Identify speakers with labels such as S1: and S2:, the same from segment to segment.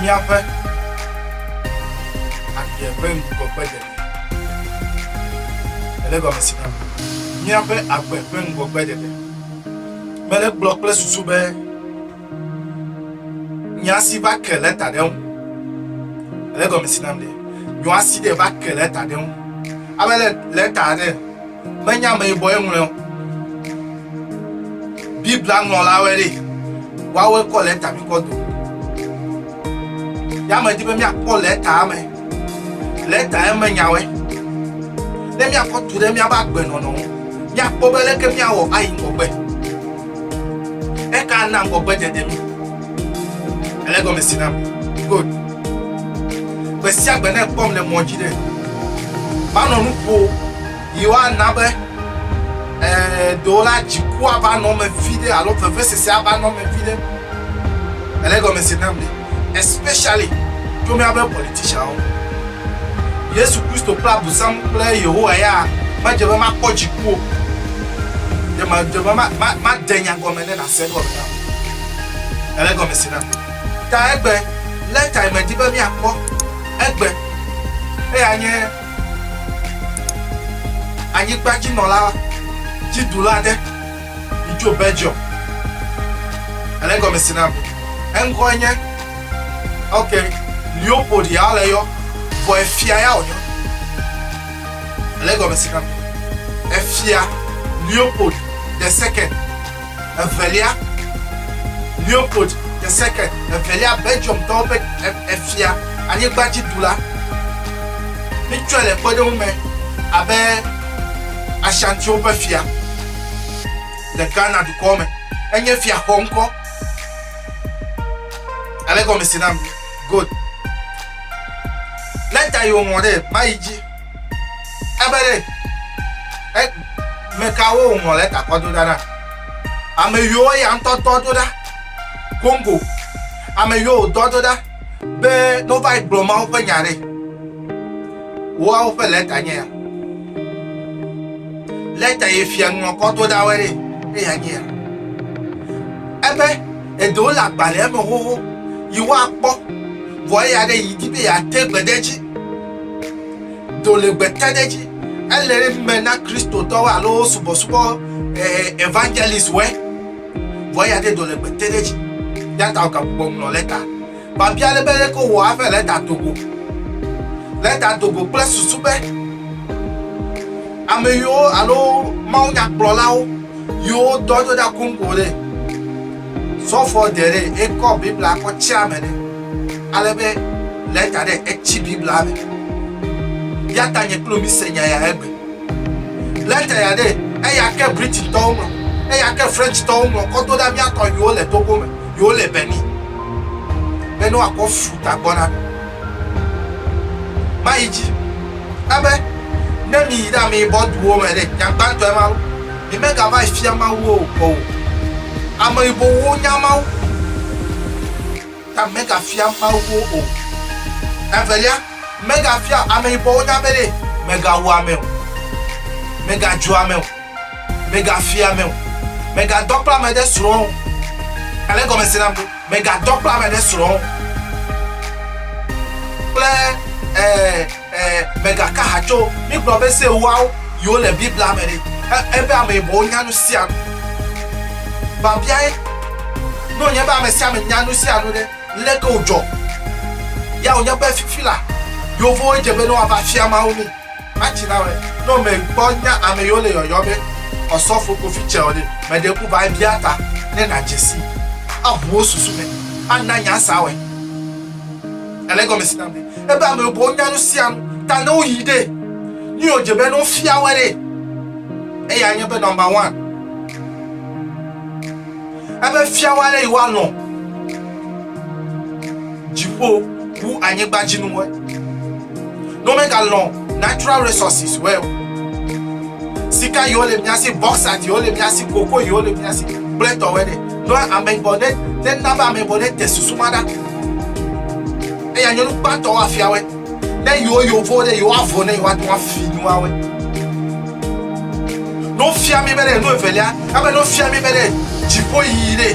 S1: Míaƒe agbe ƒe ŋgɔgbe ɖeɖe.
S2: Ele gɔme si na míaƒe agbe ƒe ŋgɔgbe ɖeɖe. Mele gblɔ kple susu be nya si va ke le ta ɖe ŋu. Ele gɔme si na be nyɔa si ɖe va ke le ta ɖe ŋu. Ame le le ta ɖe. Menye ameyibɔe ŋlɔe o. Biblia ŋlɔlawoe ɖee. Woawoe kɔ lɛta mi kɔ do. Ya medi be míakpɔ lɛtaa me. Lɛta eme nyawoe. Ne míakɔ tu ɖe míaƒe agbenɔnɔ ŋu, míakpɔ be leke míawɔ ayi ŋgɔgbe. Eka ana ŋgɔgbedzedze mi. Ele gɔme si nam. Good. Gbe sia gbe ne ekpɔm le mɔ dzi ɖe, manɔ nu ƒo yi woana be ee ɖewo la dziku ava nɔ me vi ɖe alo vevesese ava nɔ me vi ɖe. Ele gɔme si nam ɖe. Especially to míaƒe politicianwo. Yesu Kristo kple Abusam kple Yehowa ya medze be makpɔ dziku o. Ɖe medze be made nya gɔme ɖe nàse egɔme na o. Ele gɔme si nam. Ta egbe, lé tae medi be míakpɔ egbe. Eya nye anyigbadzinɔla dziɖula aɖe yi tso Belgium. Ele gɔme si nam. Eŋkɔe nye, ok, Leopold ya wole yɔ, vɔ efia ya wòyɔ. Ele gɔme si nam. Efia Leopold the second. Evelia, Leopold the Second, evelia Belgiumtɔwo ƒe efia, anyigbadzidula. Mítsɔe le kpɔɖeŋu me abe Ashantiwo ƒe fia le Ghana dukɔ me. Enye fia xɔ ŋkɔ. Ale gɔme si nam. Good. Leta yi wòŋlɔ ɖe mayi dzi. Ebe ɖe e mekawo wòŋlɔ le takɔ do ɖa na? Ame yiwo ya ŋutɔ dɔ do ɖa Congo, ame yiwo wòdɔ do ɖa be ne wova yi gblɔ Mawu ƒe nya ɖe woawo ƒe lɛta nye ya. Lɛta yi fia ŋlɔ kɔ do ɖa wɔe ɖe eya nye ya. Ebe eɖewo le agbalẽa me xoxo yi woakpɔ vɔ eya ɖe yi di be yeate gbedeedzi. Do le gbe te ɖe dzi. Ele me na Kristotɔwo alo subɔsubɔ eh, evangelist wɛ. Vɔ ya de do le gbe te ɖe dzi. Ya ta gagbɔ ŋlɔ lɛta. Babia le be leke wɔ aƒe lɛta dogo. Lɛta dogo kple susu be ame yiwo alo mawunyakplɔlawo yiwo dɔ do ɖa Congo ɖe. Sɔfoɔ Terry ekɔ Biblia kɔ tsia me ɖe ale be lɛta ɖe etsi Biblia me. Yata nye kpli wò mi se nya ya egbe. Lɛta ya ɖe eya ke Britain tɔwo ŋlɔ, eya ke French tɔwo ŋlɔ kɔ do ɖa mía tɔ yiwo le Togo me, yiwo le Benin be ne woakɔ fu ta gbɔ na mi. Mayi dzi ebe ne mi yi ɖe ameyibɔ duwo me ɖe, nya gbãtɔe ma lo. Yemegava yi fia Mawu o kpɔ o. Ame yibɔwo nya Mawu ta mega fia Mawu wo o. Evelia, mega fia ame yibɔwo nya be ɖe mega wu ame o. Mega dzu ame o. Mega fia ame o. Mega dɔ kple ame ɖe srɔ̃ o. Ale gɔme se nam ɖo. Mega dɔ kple ame ɖe srɔ̃ o. Kple eh. Ẽ, mègaka ha tso mígblɔ be Se Ewoawo yiwo le Biblia me ɖi ẽ, ẽ be ame yibɔwo nya nu sia nu. Biabiae, Ne wònye be ame sia ame nya nu sia nu ɖe, leke wòdzɔ? Ya wònye be fifi la, Yevowo dze be ne woava fia Mawu mí. Matsi na wòe. Ne wòmekpɔ nya ame yiwo le yɔyɔ be Ɔsɔfo Kofi tsɛ o ɖe, mèɖe ku va ebia ta ne nàdze sii aʋu wo susu me ana nya sia wɔe. Ale gɔme si name ebe ame bubuwo nya nu sia nu ta ne woyi ɖe nu yio dze be ne wofia wɔ ɖe eya nye be number one ebe fia wɔ ale yi wa nɔ dziƒo wu anyigba dzi nu wɔ no me ga lɔ natural resources wɔ sika yi wole miasi boxat yi wole miasi koko yi wole miasi kple tɔwɛ ɖe no ame bɔ ne ne naba ame bɔ ne te susu ma ɖa Eya nyɔnu gbãtɔ woafiawɔe. Ne yewo yovo ɖe yewoavɔ ne yewoate ŋu afi nuawoe. Ne wofia mí be ɖe nu evelia, ebe ne wofia mí be ɖe dziƒoyiyi ɖe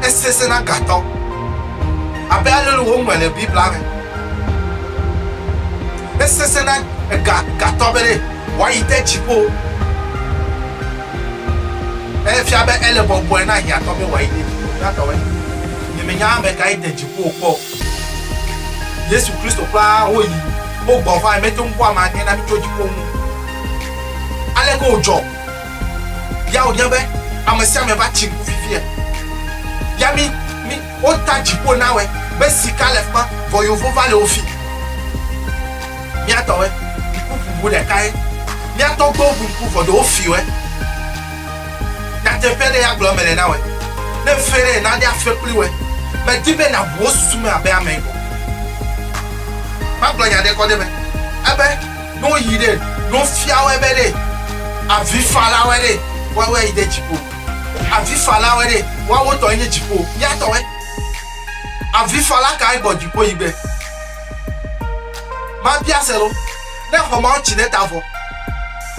S2: esesẽ na gatɔ abe ale le woŋlɔe le Biblia me. Esesẽ na ega gatɔ be ɖe wòayi de dziƒo. Efia be ele bɔbɔe na hiãtɔ be wòayi ɖe dziƒo. Hiãtɔe. Nyemenya ame kae de dziƒo wòkpɔ o. Yesu Kristo kura woyi, wogbɔ vae, mete ŋu kpɔ ame aɖe na mitso dziƒo ŋu. Aleke wòdzɔ? Ya wòbia be, Ame sia ame va tsi ŋku fifia? Ya mi, mi. Wo ta dziƒo nawɛ be sika le fima vɔ yovo va le wo fig. Mía tɔ wɛ ŋku ƒubu ɖeka ye. Mía tɔ gbewo ŋu ŋku vɔ ɖe wo fi wɛ. Nyateƒe ɖe ya gblɔ mele na wɛ. Ne ŋfe ɖe na ɖe afe kpli wɛ. Me di be na ŋu wo susu me abe ame go. Ma gblɔ nya ɖe kɔ ɖe me ebe ne wo yi ɖe, ne wo fia wɛ be ɖe avi fa la wɛ ɖe, wɔ wɛ yi ɖe dziƒo. Avifalawoe ɖe, woawo tɔe nye dziƒo, ya tɔe. Avifala kae gbɔ dziƒo yi be, Mabia se ɖo, ne xɔ mawo tsi ɖe ta vɔ,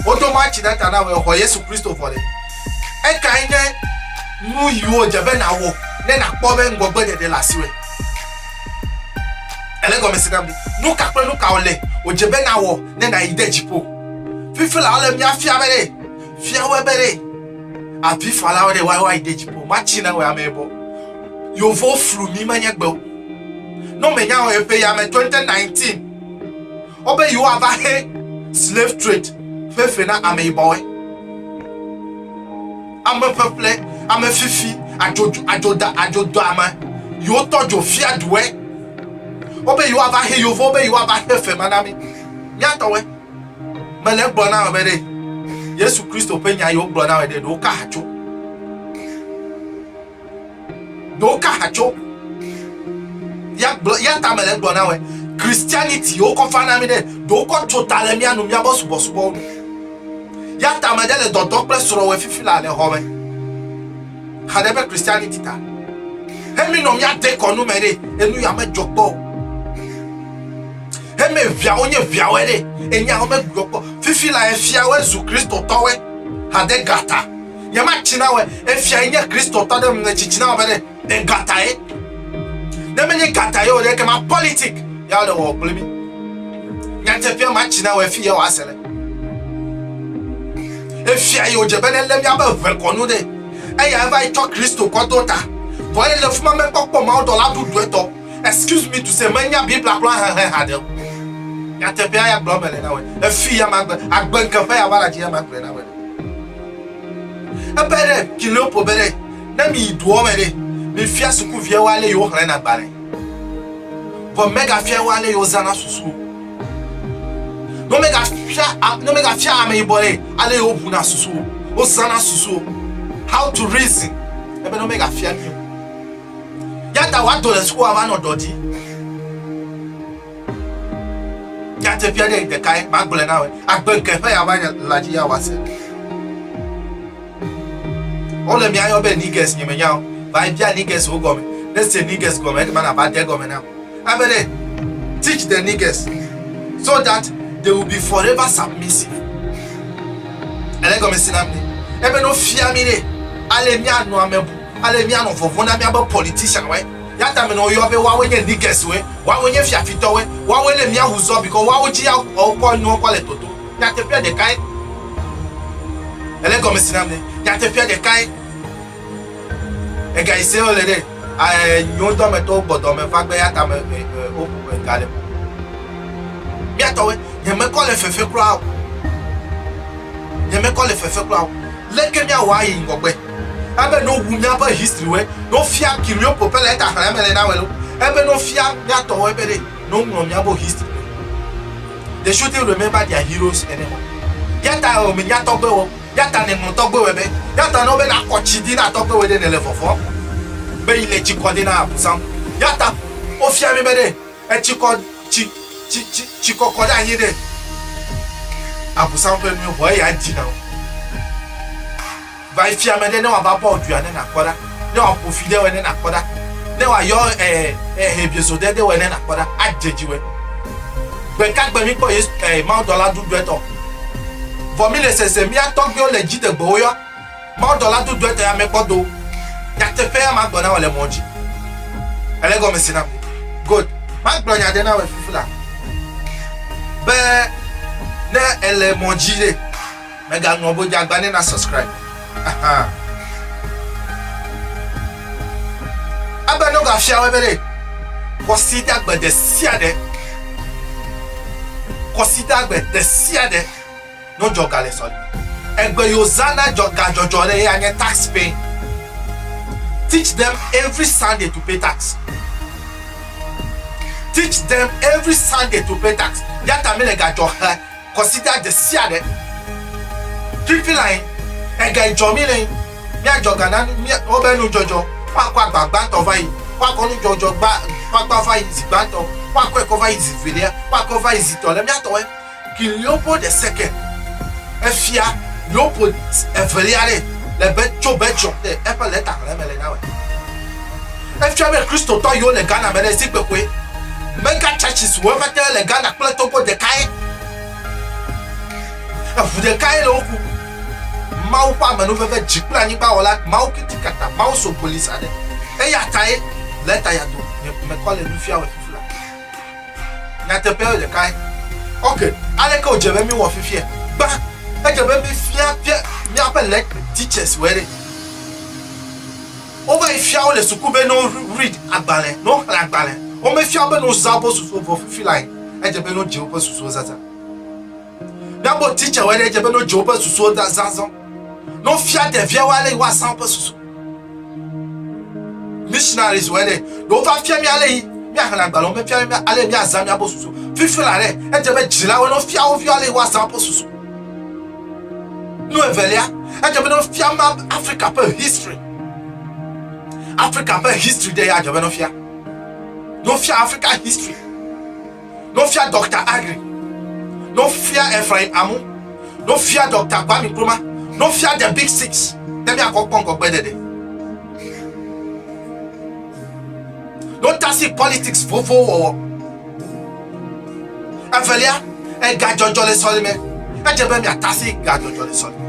S2: wodo ma tsi ɖe ta na wòe xɔ Yesu Kristo vɔ ɖe? Ekae nye nu yiwo dze be nàwɔ ne nàkpɔ be ŋgɔgbeɖeɖe le asiwòe? Èle gɔmesese nam ɖe? Nu ka kple nu ka wòle wòdze be nàwɔ ne nàyi de dziƒo? Fifila wole míafia be ɖe, Fia wɔ be ɖe avi fala wɔ ɖe wa wa ide dzipo ma tsi na wɔ ame bɔ. Yovo flu mi ma nya gbewo. No me nya wɔ epe ya me 2019. Wɔ be yo wa va he slave trade fe fe na ame yi bɔwe. Ame fefe ame fifi ajo ajo da ajo do ame yo tɔ jo fia duwe. Wɔ be yo wa va he yovo be yo wa va he fe ma na mi. Nya tɔwe. Mele gblɔ na wò be ɖe Yesu Kristo ƒe nya yewo gblɔ na wò ɖe ɖewo ka hatso. Ɖewo ka hatso. Ya gblɔ ya ta mele gblɔ na wò. Christianity yewo kɔ fa na mi ɖe ɖewo kɔ tso ta le mia nu mia bɔ subɔ subɔ wo. Ya ta me ɖe le dɔdɔ kple srɔ̃ wɔ fifi la le xɔ me. Haɖe ƒe Christianity ta. He mi nɔ mia de kɔnu me ɖe enu ya me dzɔ kpɔ. Heme viawo nye viawoe ɖe, enyawo megblɔ kpɔ. Fifi la efiawoe zu Kristotɔwoe. Hade gata. Nyema tsina woe. Efia yi nye Kristotɔ ɖe mne tsi tsina woe ɖe. De gata ye. Ne menye gata ye o ɖe, kema politik ya le wɔ kple mi. Nyatefia ma tsina woe fi ye wa se le. Efia yi odze be ne le miabe ʋe kɔnu ɖe. Eya eva yi tsɔ Kristo kɔ do ta. Vɔ ele fuma mekpɔkpɔ mawudɔla ɖuɖuetɔ. Excuse me to say, menya Biblia kura hehe haɖe o. Nyateƒea ya gblɔ mele na wɔ. Efi ya magbe, agbe nkeƒe ya wala dzi ya magblɔ na wɔ. Ebe ɖe Kiliopol be ɖe ne mi yi doɔ me ɖe, mi fia sukuviawo ale yewo xlẽ na gbalẽ. Vɔ mega fia wo ale yewo zana susu. Ne mega fia, ne mega fia ame yibɔ ɖe ale yewo ʋu na susu, wo zana susu. How to reason. Ebe ne mega fia mi o. Yata wa dɔ le sukua va nɔ dɔ di. Ya te pia ɖe ɖeka ye ma gblɔ na we. Agbe ke ƒe ya va nya la ji ya wa se. O le mia yo be niggas nye me nya o. Ba pia niggas o gome. Ne se niggas gome e ke ma na ba de gome na. A be ne teach the niggas so that they will be forever submissive. Ele gome si na me. E be no fia mi ne ale mia no ame bu. Ale míanɔ vɔvɔ̃ na míabe politicianwoe. Yata menɔ woyɔ be woawoe nye niggeswoe, woawoe nye fiafitɔwoe, woawoe le mía ŋu zɔ bikɔ woawo dzi ya wɔwo kɔ nuwo kɔ le toto. Nyateƒea ɖekae. Ele gɔme si nam ne. Nyateƒea ɖekae. Ega yi se wole ɖe. Ae nyiwo dɔ me tɔwo gbɔ dɔ me va gbe yata me e e wo e ga le ƒoƒo. Mía tɔwoe. Nye mekɔ le fefe kura o. Nye mekɔ le fefe kura o. Leke mía wɔ ayi ŋgɔgbe? Ebe no wu míaƒe history wɛ no fia kirion ko pele eta xlẽ mele na wɛ lo. Ebe no fia míatɔ wɛ be ɖe no ŋlɔ míabo history wɛ. They shouldn't remember their heroes anymore. Yata eo me nya tɔgbe wɔ. Yata ne ŋlɔ tɔgbe wɛ be. Yata no be na kɔ tsi di na tɔgbe wɛ ɖe ne le vɔvɔ be yi le tsi kɔ de na abusan. Yata wo fia mi be ɖe. Etsi kɔ, tsi, tsi, tsi, tsi kɔ kɔ ɖe anyi nɛ. Abosam ƒe nue xɔ eya ŋti na wo. Va yi fia ame ɖe ne wòava bɔ dua ne nàkpɔ ɖa, ne wòaƒo fi ɖe wòe ne nàkpɔ ɖa, ne wòayɔ e, e, hebiezo ɖe ɖe wòe ne nàkpɔ ɖa, adze dzi wòe. Gbe ka gbe míkpɔ Yesu, e, mawudɔla ɖuɖuetɔ? Vɔ míle sese míatɔgbiwo le dziɖegbewo yɔ. Mawudɔla dodoa ete ame kpɔ do. Nyateƒea magblɔ na wò le mɔ dzi. Èle egɔme se nam. Good. Magblɔ nya aɖe na wò fifi la be ne èle mɔ dzi ɖe, mègaŋlɔ be dzeagba ne na subscribe. Aha. Ebe ne wogafia wò ebe ɖe, kɔsiɖagbe ɖesiaɖe, kɔsiɖagbe ɖesiaɖe. no dzɔ ga le sɔli egbe yo zana dzɔ ga dzɔ dzɔ le ya nye tax pay teach them every sunday to pay tax teach them every sunday to pay tax ya ta mi le ga dzɔ he kɔsida de sia de fifi la yin ega dzɔ mi le yin mi a dzɔ ga na mi o be nu dzɔ dzɔ fa kwa gba gba tɔ va yi fa kɔ nu dzɔ dzɔ gba fa gba va yi zi gba tɔ fa kɔ ekɔ va yi zi velia fa kɔ va yi zi tɔ le mi a tɔ wɛ King Leopold the Second, Efia Leopold Evelia ɖee le be tso Belgium te eƒe lɛtaŋlẽ me le na me. Efia be Kristotɔ yiwo le Ghana me le zi kpekpɔe, mega churches wo ƒete le Ghana kple Togo ɖekae. Eŋu ɖekae le wo ku. Mawu ƒe amenuveve dzi kple anyigba wɔla Mawu Kitikata Mawu Sogolisa ɖe. Eyatae lɛta ya do nye mekɔ le nu fia wɔ fifla. Nyateƒe ye ɖekae. Ok, aleke wòdze be míewɔ fifia? Gbã, edze be míefia fia míaƒe le teachers wɔ ɖe. Wova yi fia wo le suku be no read agbalẽ, no xlẽ agbalẽ. Womefia wo be no zã woƒe susuwo vɔ fifi lae, edze be no dze woƒe susuwo zazã. Na bo titsa wɔ ɖe dze be no dze woƒe susuwo da zazɔ. No fia ɖevia wa le wa san woƒe susu. Missionaries wɔ ɖe do fa fia mi ale yi mi ahla gbalo me fia mi ale mi azan mi abo susu. Fifi la re e dze be jila wo no fia wo fia le wa san woƒe susu. No evelia e dze be no fia ma Africa pe history. Africa pe history de ya dze be no fia. No fia Africa history. No fia Doctor Aggrey. No fia Ephraim Amu. No fia Doctor Kwame Nkrumah. No fia The Big Six. Ne mia kɔ kpɔnkɔ gbe dede. No tasi politics vovo wɔwɔ. Evelia, ega jɔjɔ le sɔlime. Edze be mia tasi ga jɔjɔ le sɔlime.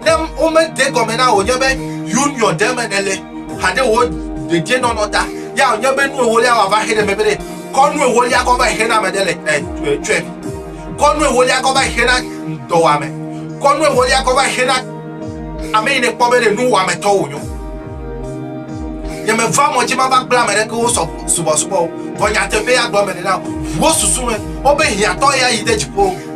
S2: Ne womede egɔme na wò nye be union ɖe me nèle haɖe wò dedienɔnɔ ta, ya wònye be nu ewolia wòava xe ɖe megbe ɖe, kɔ nu ewolia kɔ va xe na ame ɖe le eh, tsɔe. Kɔ nu ewolia kɔ va xe na dɔwɔame. Kɔ nu ewolia kɔ va xe na ame yi nèkpɔ be ɖe nuwɔametɔ wònyo. Nyemeva mɔ dzi mava kple ame ɖeke wo subɔsubɔ o, vɔ nyateƒee agblɔ mele na wò. Ʋu wò susu me, wobe hiãtɔ ya yi de dziƒo.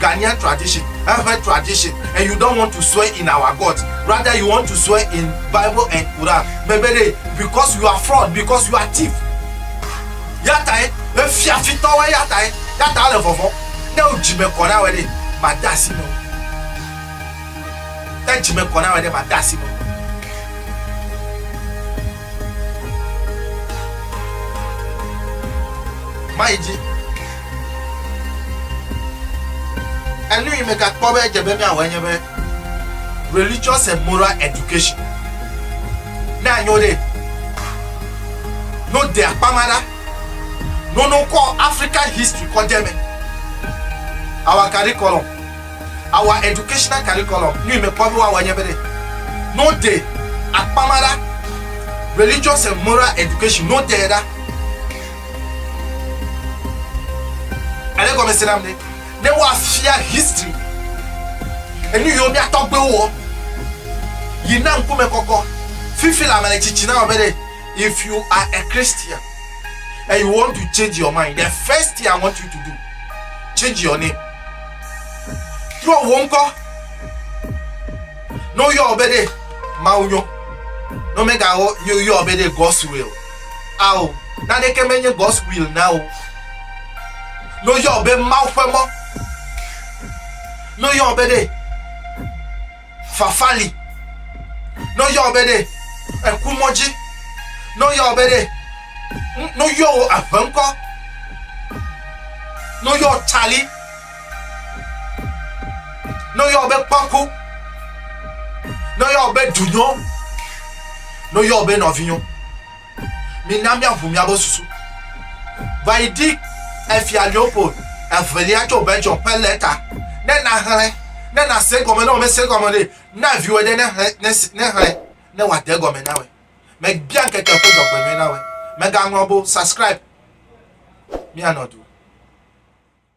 S2: Ghanaian tradition, hehe tradition and you don't want to swear in our God. Rather you want to swear in Bible and Quran. Bebede because you are fraud, because you are thief. Yatae, efia fitɔ wɔ yatae, yata le vɔvɔ. Ne o dzime kɔ na wɔ ɖe, ma de asi me. Ne dzime kɔ na wɔ ɖe, ma de asi me. Mayi dzi. Enu yi megakpɔ be edze be míawɔe nye be Religious and Moral Education. Ne anyo ɖe, no de akpa ma ɖa, no no kɔ African history kɔ de me. Our curriculum, our educational curriculum, nu yi mekpɔ be woawɔe nye be ɖe, no de akpa ma ɖa, Religious and Moral Education, no de ɖa. Ale gɔme se nam ne ne woafia history enu yiwo mía tɔgbuiwo wɔ yi na ŋkume kɔkɔ fifi la mele tsitsi na wɔbe ɖe if you are a Christian and you want to change your mind the first thing I want you to do change your name trɔ wo ŋkɔ ne woyɔ wɔbe ɖe mawunyɔ ne womegawo yɔ wɔbe ɖe God's will Ao, naneke menye God's will na wo. No yɔ be Mawu ƒe mɔ. No yɔ be ɖe fafa li. No yɔ be ɖe eku mɔ dzi. No yɔ be ɖe no yɔ wo aʋenkɔ. No yɔ Charlie. Ne woyɔ wò be kpaku, ne woyɔ wò be dunyo, ne woyɔ wò be nɔvinyo, mina míaʋu míabe susu. Va yi ɖi Efia Leopold Evelia tso Belgium ƒe lɛta ne nàxlẽ, ne nàse egɔme ne wòmese egɔme nɛ. Na viwò ɖe nexlẽ ne wòade egɔme na wòe. Mebia ŋkeke ƒe dzɔgbenyui na wòe. Mègaŋlɔ be o. Subscribe. Míanɔ du.